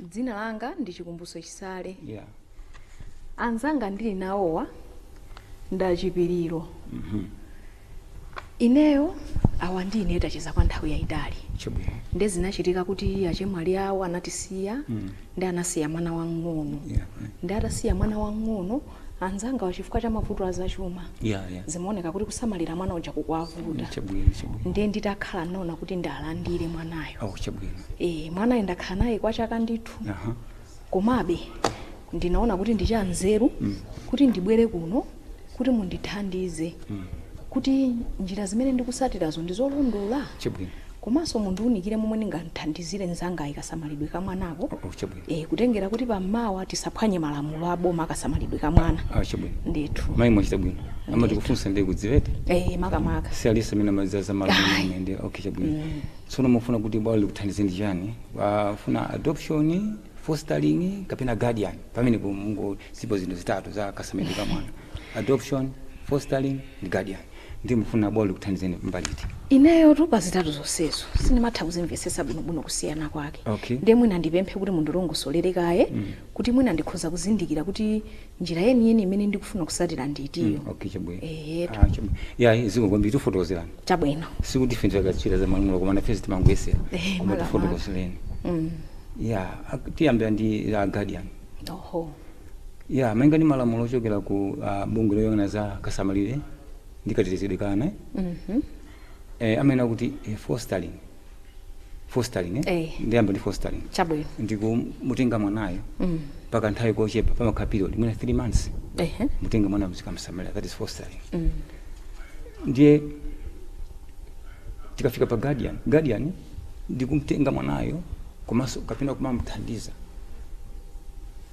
Dzina langa ndi Chikumbutso Chisale. Yeah. Anzanga ndili nawowa ndi a Chipiriro. Ineyo awa ndi ine tacheza kwa nthawi yayitali. Chabwino. Nde zinachitika kuti achemwali awo anatisiya ndi anasiya mwana wang'ono. Yeah. Ndi atasiya mwana wang'ono anzangawa chifukwa cha mavuto azachuma yeah, yeah. zimaoneka kuti kusamalira mwana uja kukuwavuta chabwino chabwino ndiye nditakhala naona kuti ndimulandire mwanayo oh chabwino e, mwanayo ndakhala naye kwa chaka ndithu aha komabe ndinaona kuti ndi chanzeru kuti ndibwere kuno kuti mundithandize kuti njira zimene ndikutsatirazo ndi zolondola chabwino komanso mundiunikire momwe ndingamthandizire mzanga pa kasamalidwe ka mwanako oh chabwino e, kutengera kuti pammawa tisaphwanye malamulo a boma a kasamalidwe ka mwana ah, chabwino ndithu mayi mwachita bwino amati kufunsa ndi kudziwa eti e, makamaka si aliyense amene amadziwa za malamulo ndiye okay chabwino mm. tsono mufuna kuti bwalo likuthandizeni chani mwafuna adoption fostering kapena guardian pamenepo mungo zilipo zinthu zitatu za kasamalidwe ka mwana adoption fostering ndi guardian Ndiye mukufuna bwalo likuthandizeni kumbali iti? Ineyotu pa zitatu zonsezo sindimatha kuzimvetsetsa bwinobwino kusiyana kwake. Okay. Ndiye mwina ndipemphe kuti mundilongosolere kaye kuti mwina ndikhoza kuzindikira kuti njira yeniyeni imene ndikufuna kutsatira ndi itiyo. Okay chabwino. Eyetu. Ah, chabwino. Yayi zikomo kwambiri tikufotokozerani. Chabwino. Sikuti ife ndi akatswiri za malamulo koma nafe timangoyesera. Eh, Koma makamaka. tikufotokozerani. Mm. Yeah, ak- tiyambira ndi Guardian. oho ya malinga ndi malamulo ochokera ku uh, bungwe loyang'ana za kasamalidwe ndi katetezedwe ka ana mhm eh, amanena kuti eh, fostering fostering eh? Eh. ndiyamba ndi fostering chabwino ndi kumutenga mwanayo Mm. kwa kanthawi kochepa pamakhala period mwina 3 months ehe mutenga mwana muzikamsamalira that is fostering Mm. ndiye tikafika pa guardian guardian ndi kumtenga mwanayo komanso kapena kumamuthandiza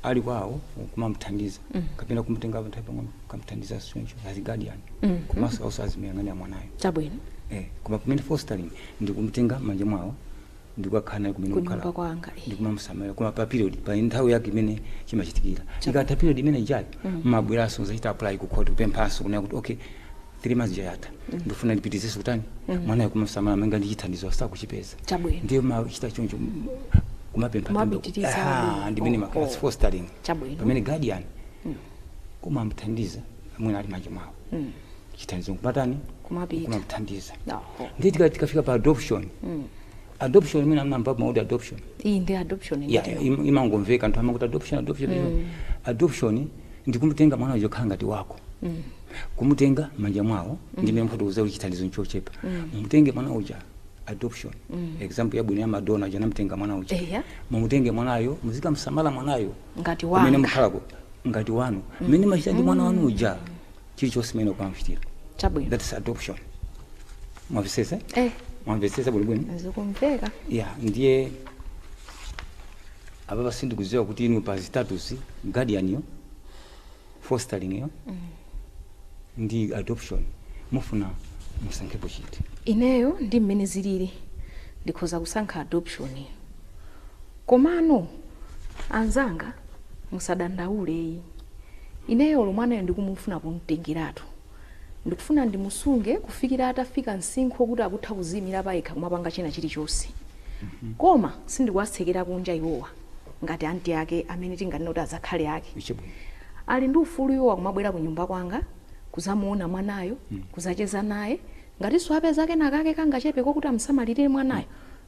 ali kwawo kumamuthandiza mm. kapena kumutenga nthawi pang'ono kumuthandiza choncho as guardian mm. komanso also azimuyang'anira mwanayo chabwino eh, koma pamene fostering ndi kumutenga m'manja mwawo ndikukakhala naye kumene Kunyumba kukhala kwanga, eh. ndikumamusamalira koma pa period pa nthawi yake imene chimachitikira ikatha period imene ijayo mumabweranso kudzachita apply ku court kupemphanso kunena kuti okay 3 months ija yatha ndifuna ndipitirizenso kutani mwanayo kumamsamala malinga ndi chithandizo sakuchipeza Chabwino. ndiye mumachita choncho m- kumapempha Kumapitiriza pempho. Aha, chabwino. ndi mmene Oh, imakhala oh. fostering Chabwino. pamene guardian kumamthandiza mwana ali m'manja mwawo chithandizo nkumatani Kumapita. kumamthandiza Oho. ndiye tika- tikafika pa adoption adoption mwina amamva mawu kuti adoption iyi ndi adoption ndithu. im- imangomveka anthu amakuti adoption adoption adoption. adoption ndi kumutenga mwana uja kukhala ngati wako kumutenga manja mwawo ndi mmene mwafotokoza kuti chithandizo nchochepa mumutenge mwana uja adoption example yabwino ya Madonna uja anamutenga mwana uja Eya. mumutenge mwanayo muzikamsamala mwanayo Ngati wanga. Pamene mukhalako ngati wanu mmene mumachita ndi mwana wanu uja chilichonse mmene mukamuchitira chabwino that is adoption mwamvetsetsa eh mwamvetsetsa bwinobwino zikumveka ya ndiye apapa sindikudziwa kuti inu pa status guardian yo fostering yo ndi adoption mufuna musankhepo chiti ineyo ndi mmene zilili ndikhoza kusankha adoption komano anzanga musadandaule iyi Ineyo olo mwanayo ndikumufuna kum'tengeratu. Ndikufuna ndimusunge kufikira atafika msinkhu okuti akutha kuziimira payekha kumapanga china chilichonse. Koma sindikuwatsekera kunja iwowa ngati aunt ake amene tinganene kuti azakhali ake. Ali ndi ufulu iwowa kumabwera kunyumba kwanga, kudzamuona mwanayo, kudzacheza naye, Ngatinso apeza kenakake kangachepeko kuti amusamalirire mwanayo,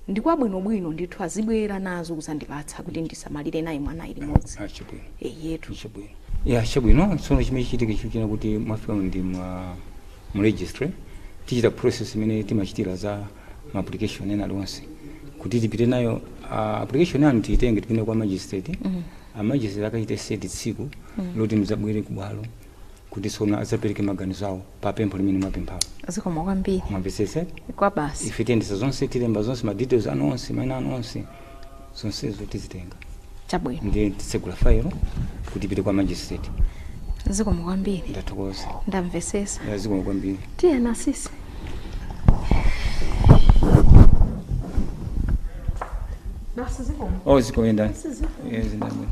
ndi kwabwinobwino ndithu, azibwera nazo kudzandipatsa kuti ndisamalire naye mwanayo limodzi. Ah, chabwino. Eyetu. Chabwino. Ya, chabwino. Tsono chimene chichitike chikutchena kuti mwafika ndi mu registry tichita process imene timachitira za ma application ena aliwonse kuti tipite nayo ah, application yanu tiyitenge tipite kwa magistrate a magistrate akachite set tsiku loti mudzabwere ku bwalo kuti tsono adzapereke maganizo awo pa pempho limene mwapemphalo zikomo kwambiri mwamvetsetsa kwabasi ife tiyendetsa zonse tilemba zonse ma details anu onse maina anu onse zonsezo tizitenga chabwino ndiye titsegula fayilo kuti ipite kwa magistrate zikomo kwambiri ndathokoza ndamvesesa Ya, zikomo kwambiri tiyeni sisi basi zikomo oh zikoyenda sizikomo Yeah, zindabwino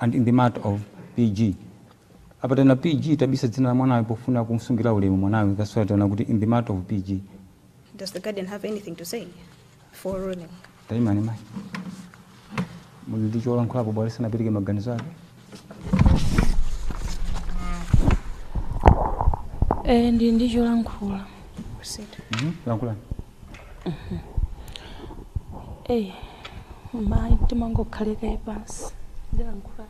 and in the matter of pg apa tanena pg tabisa dzina la mwanayo pofuna kumsungira ulemu mwanayo that's why tanena kuti in the matter of pg Does the guardian have anything to say for ruling? taimani mayi muli ndi cholankhulapo bwalo lisanapereke maganizo ake Eh, ndili ndi cholankhula Proceed. Mhm, lankhulani eyi mayi simangokhala kaye pansi ndilankhula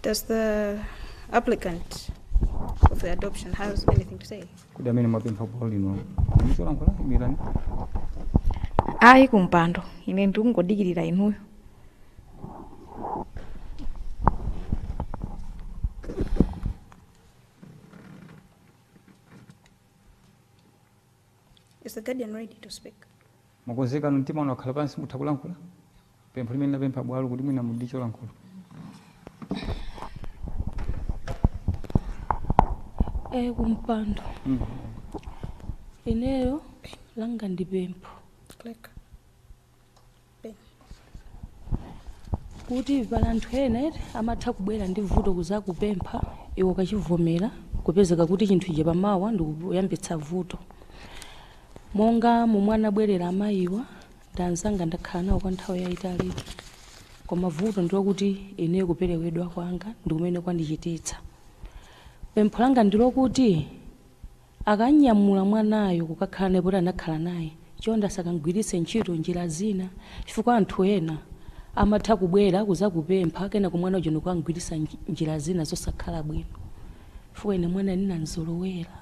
Does the applicant of the adoption have anything to say? kodi amene mwapempha bwalo lino muli ndi cholankhula imirani ayi kumpando ine ndikungodikirira inuyo Is the guardian ready to speak? Mwakonzeka mtima wanu wakhala pansi mutha kulankhula pempho limene linapempha bwalo kuti mwina muli ndi cholankhula. E, kumpando ineyo langa ndi pempho. kuti pali anthu ena amatha kubwera ndi vuto kuzakupempha iwe ukachivomera kupezeka kuti chinthu ichi pamawa ndikuyambitsa vuto monga momwe anabwerera amayiwa ndi anzanga ndakhala nawo kwa nthawi yayitali koma vuto ndilokuti ine kuperewedwa kwanga ndikumene kwandichititsa pempho langa ndilokuti Akanyamula mwanayo kukakhala naye poti anakhala naye, chonde asakamgwiritse ntchito njira zina chifukwa anthu ena amatha kubwera kuzakupempha kenako mwana uja ndikukamgwiritsa njira zina zosakhala bwino chifukwa ine mwanayo ndinamzolowera.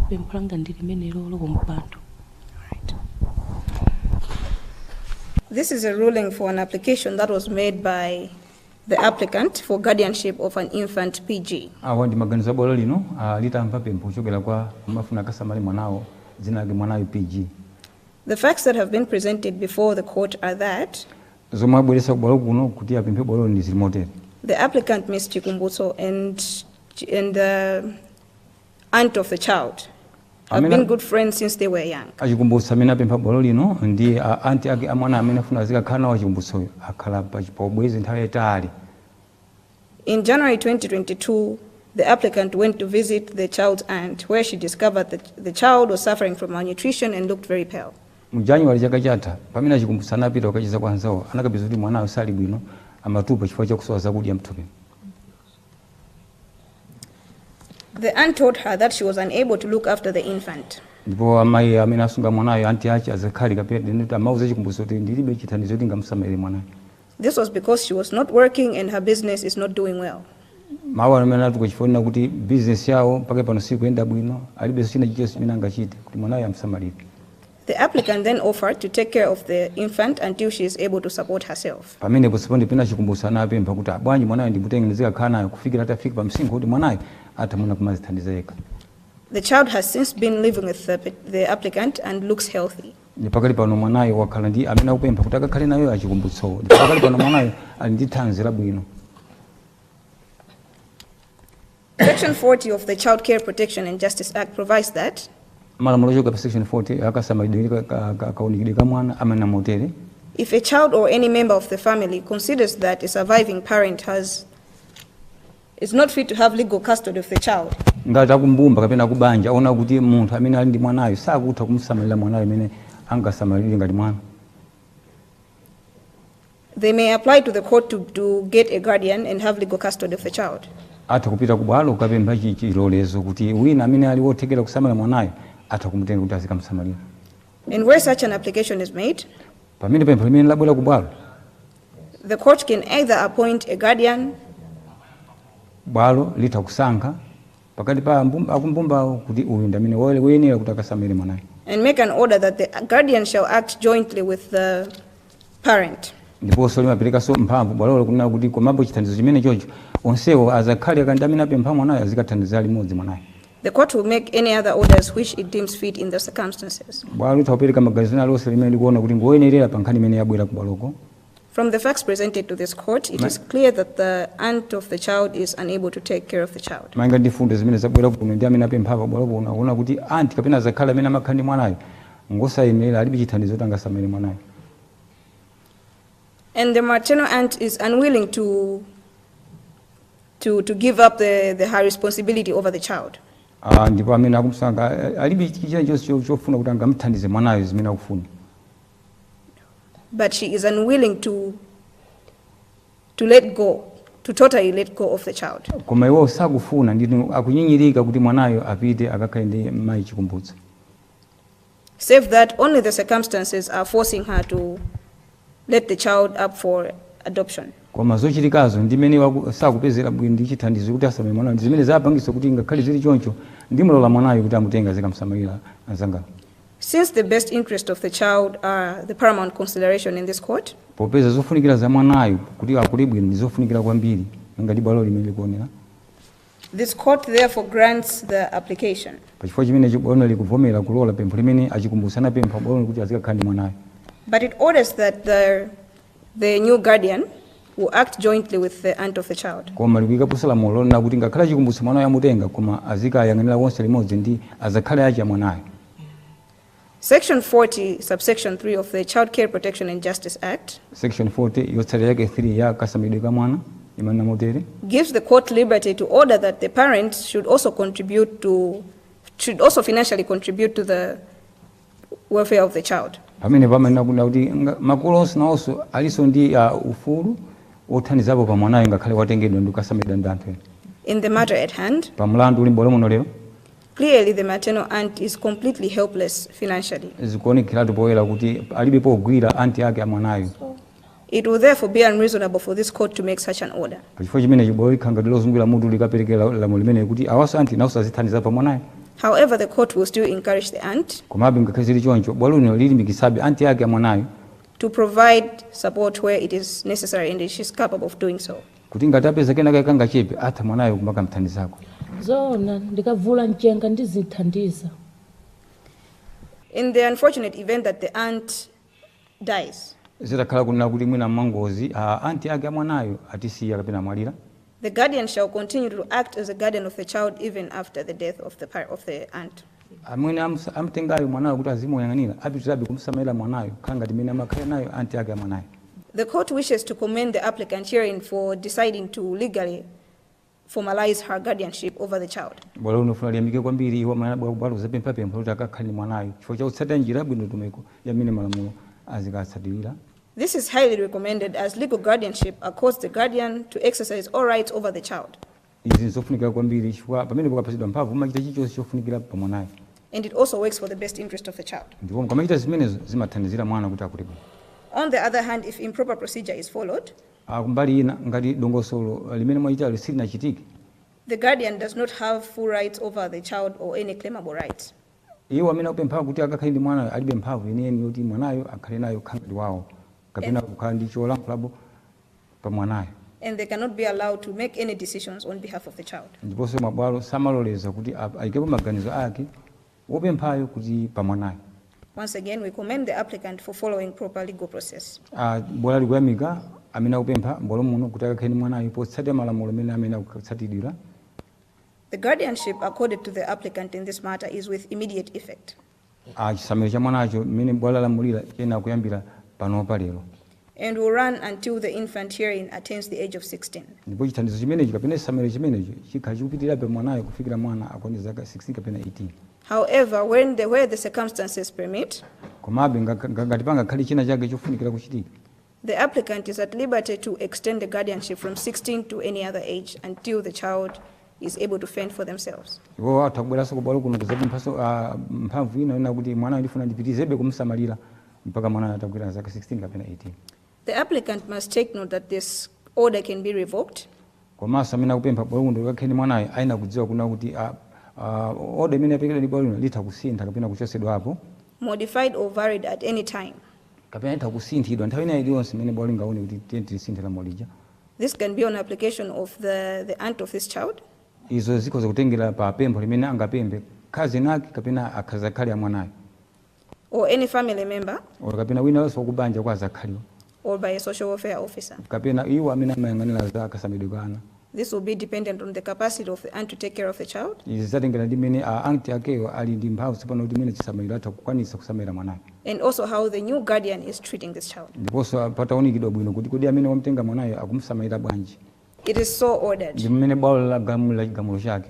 pempho langa ndi limenelo kumpando This is a ruling for an application that was made by the applicant for guardianship of an infant PG. awa ndi maganizo a bwalo lino ah, litamva pempho kuchokera kwa amene afuna akasamale mwanayo dzina lake mwanayo pg The facts that have been presented before the court are that zomwe abweresa kubwalo kuno kuti apemphe bwalo ndi zili motere the applicant, Ms. Chikumbutso, and and the aunt of the child have been good friends since they were young. achikumbutso amene apempha bwalo lino ndi a- anti ake amwana amene afuna azikakhala nawo achikumbutsoyo akhala pa- pa ubwenzi nthawi yayitali In January 2022, the applicant went to visit the child's aunt, where she discovered that the child was suffering from malnutrition and looked very pale. mu januwali chaka chatha pamene achikumbutso anapita kukacheza kwa anzawo anakapeza kuti mwanayo sali bwino amatupa chifukwa chakusowa zakudya mthupi The aunt told her that she was unable to look after the infant. ndipo amayi amene asunga mwanayo anti ake azakhali kapena tinene anauza achikumbutso kuti ndilibe chithandizo kuti ndingamusamalire mwanayo This was because she was not working and her business is not doing well. mawu amene ananena chifukwa kuti bizinesi yawo mpaka pano sikuyenda bwino alibenso china chilichonse chimene angachite kuti mwanayo amsamalire The applicant then offered to take care of the infant until she is able to support herself. Pamenepo respondent kapena a Chikumbutso anapempha kuti "Ah, bwanji mwanayo ndimutenge ndizikakhala naye kufikira atafika pa msinkhu woti mwanayo atha mwina kumadzithandiza yekha. The child has since been living with the, pet- the applicant and looks healthy. Ndi pakali pano mwanayo wakhala ndi amene akupempha kuti akakhale naye a Chikumbutsowo. Ndi pakali pano mwanayo ali ndi thanzi labwino. Section 40 of the Child Care Protection and Justice Act provides that malamulo ochoka pa section 40 a kasamalidwe ka- ka- ka- kaonekedwe ka mwana amanena motere if a child or any member of the family considers that a surviving parent has is not fit to have legal custody of the child, ngati akumbumba kapena akubanja aona kuti munthu amene ali ndi mwanayo sakutha kumsamalira mwanayo amene angasamalire ngati mwana They may apply to the court to, to get a guardian and have legal custody of the child. atha kupita ku bwalo kukapempha chi- chilolezo kuti wina amene ali wothekera kusamalira mwanayo atha kumutenga kuti azikamsamalira And where such an application is made, pamene pempho limeneli labwera ku bwalo the court can either appoint a guardian bwalo litha kusankha pakati pa akumbumbawo kuti uyu ndi amene woyenera kuti akasamalire mwanayo. and make an order that the guardian shall act jointly with the parent. ndiponso limaperekanso mphamvu bwalolo kunena kuti komapo chithandizo chimene chocho onsewo azakhali ake ndi amene apempha mwanayo azikathandizira limodzi mwanayo. The court will make any other orders which it deems fit in the circumstances. bwalo litha kupereka maganizo ena alionse limene likuona kuti ngoyenerera pa nkhani imene yabwera ku bwaloko. From the facts presented to this court, it Ma- is clear that the aunt of the child is unable to take care of the child. malinga ndi mfundo zimene zabwera kuno ndi amene apempha pabwalo kuno akuona kuti anti kapena azakhali amene amakhala ndi mwanayo ngosayenera alibe chithandizo kuti angasamale mwanayo And the maternal aunt is unwilling to, to, to give up the, the, her responsibility over the child. Ah, ndipo amene akumsanga alibe chilichonse chofuna kuti angamthandize mwanayo zimene akufuna but she is unwilling to, to let go, to totally let go of the child. koma iwo sakufuna ndipo akunyinyirika kuti mwanayo apite akakhale ndi mayi Chikumbutso Save that only the circumstances are forcing her to let the child up for adoption. koma zochitikazo ndi mmene waku- sakupezera bwino ndi chithandizo kuti asamale mwanayo ndi zimene zapangitsa kuti ngakhale zili choncho ndimlola mwanayo kuti amutenge azikamsamalira anzanga Since the best interest of the child are the paramount consideration in this court, popeza zofunikira za mwanayo kuti akule bwino ndi zofunikira kwambiri ngati bwalo limene likuonera this court therefore grants the application. pachifukwa chimenechi bwalo likuvomera kulola pempho limene a Chikumbutso anapempha bwalo kuti azikakhala ndi mwanayo But it orders that the the new guardian will act jointly with the aunt of the child. koma likuyikaponso lamulo lonena kuti ngakhale chikumbutso mwanayo amutenga koma azikayang'anira wonse limodzi ndi azakhali ache amwanayo Section 40, subsection 3 of the Child Care Protection and Justice Act section 40 yotsatira yake 3 ya kasamidwe ka mwana imanena motere gives the court liberty to order that the parents should also contribute to, should also financially contribute to the welfare of the child. pamene pamanena kunena kuti nga- makolo onse nawonso alinso ndi uh, ufulu wothandizapo pa mwanayo ngakhale watengedwa ndi kukasamalidwa ndi anthu ena In the matter at hand, pa mlandu uli m'bwalo muno lero clearly the maternal aunt is completely helpless financially. zikuonekeratu poyera kuti alibe pogwira anti ake a mwanayo It will therefore be unreasonable for this Court to make such an order. Pachifukwa chimenechi bwalo likhala ngati lozungulira mutu likapereke la- lamulo limeneli kuti awanso anti nawonso azithandiza pa mwanayo. However, the Court will still encourage the aunt Komabe ngakhale zili choncho, bwalo lino lilimbikitsabe anti ake a mwanayo to provide support where it is necessary and she is capable of doing so. kuti ngati apeza kenaka kangachepe atha mwanayo kumakamthandizako. zoona ndikavula mchenga ndizithandiza In the unfortunate event that the aunt dies. Zitakhala kunena kuti mwina mwangozi a anti ake a mwanayo atisiya kapena amwalira. the guardian shall continue to act as a guardian of the child even after the death of the of the aunt. amene amtengayo mwanayo kuti azimuyang'anira apitirabe kumsamalira mwanayo kukhala ngati mmene amakhalira nayo anti ake a mwanayo. The court wishes to commend the applicant herein for deciding to legally. formalize her guardianship over the child. Bwalo lino lifuna liyamike kwambiri iwo amene anabwera kubwalo kudzapempha pempho loti akakhale ndi mwanayu chifukwa cha kutsatira njira yabwino ndondomeko ya mmene malamulo azikatsatirira. This is highly recommended as legal guardianship accords the guardian to exercise all rights over the child Izi n'zofunikira kwambiri chifukwa pamene mukapatsidwa mphamvu mumachita chilichonse chofunikira pa mwanayo and it also works for the best interest of the child. ndipo mukamachita zimenezo zimathandizira mwana kuti akule bwino. On the other hand, if improper procedure is followed, a Kumbali ina, ngati dongosolo limene mwachitali silinachitike, the guardian does not have full rights over the child or any claimable rights. Iwo amene akupempha kuti akakhale ndi mwanayo alibe mphamvu yeniyeni yoti mwanayo akhale naye kukhala ngati wawo kapena kukhala ndi cholankhulapo pa mwanayo. and they cannot be allowed to make any decisions on behalf of the child. Ndiponso mabwalo samaloleza kuti aikepo maganizo ake. wopemphayo kuti pa mwanayo. Once again, we commend the applicant for following proper legal process. a. Bwalo likuyamika amene akupempha m'bwalo muno kuti akakhale ndi mwanayo potsatira malamulo amene amayenera kutsatidwira. The guardianship accorded to the applicant in this matter is with immediate effect. a. Chisamaliro cha mwanacho, mmene bwalo lalamulira, chiyenera kuyambira panopa lero. and will run until the infant herein attains the age of 16. ndipo chithandizo chimenecho kapena chisamaliro chimenecho chikhala chikupitirira pa mwanayo kufikira mwana akwanitsa zaka 16 kapena 18 However, when the, where the circumstances permit, komabe ngakha- nga- ngati pangakhale china chake chofunikira kuchitika the applicant is at liberty to extend the guardianship from 16 to any other age until the child is able to fend for themselves. iwo atha kubweranso kubwalo kuno kudzapemphanso ah, mphamvu ina ina kuti mwanayo ndifuna ndipitizebe kumsamalira mpaka mwanayo atakwana zaka 16 kapena 18. The applicant must take note that this order can be revoked. komanso amene akupempha bwalo kuno kukhala ndi mwanayo ayenera kudziwa kuna kuti ah, ah, oda imene yaperekedwa ndi bwalo lino litha kusintha kapena kuchotsedwapo modified or varied at any time. kapena itha kusinthidwa nthawi ina iliyonse imene bwalo lingaone kuti tiye tilisinthe lamulo lija This can be on application of the, the aunt of this child izo zikhoza kutengera pa pempho limene angapemphe khazeni ake kapena azakhali a mwanayo or any family member. or kapena wina aliyense wakubanja kwa azakhaliwo. or by a social welfare officer. kapena iwo amene amayang'anira za kasamalidwe ka ana. This will be dependent on the capacity of the aunt to take care of the child. Izi zatengera ndi mmene a aunt akeyo ali ndi mphamvu tsopano kuti mmene chisamaliro atha kukwanitsa kusamalira mwanayo. And also how the new guardian is treating this child. Ndiponso pataunikidwa bwino kuti kodi amene wamtenga mwanayo akumusamalira bwanji. It is so ordered. Ndi mmene bwalo lagamula chigamulo chake.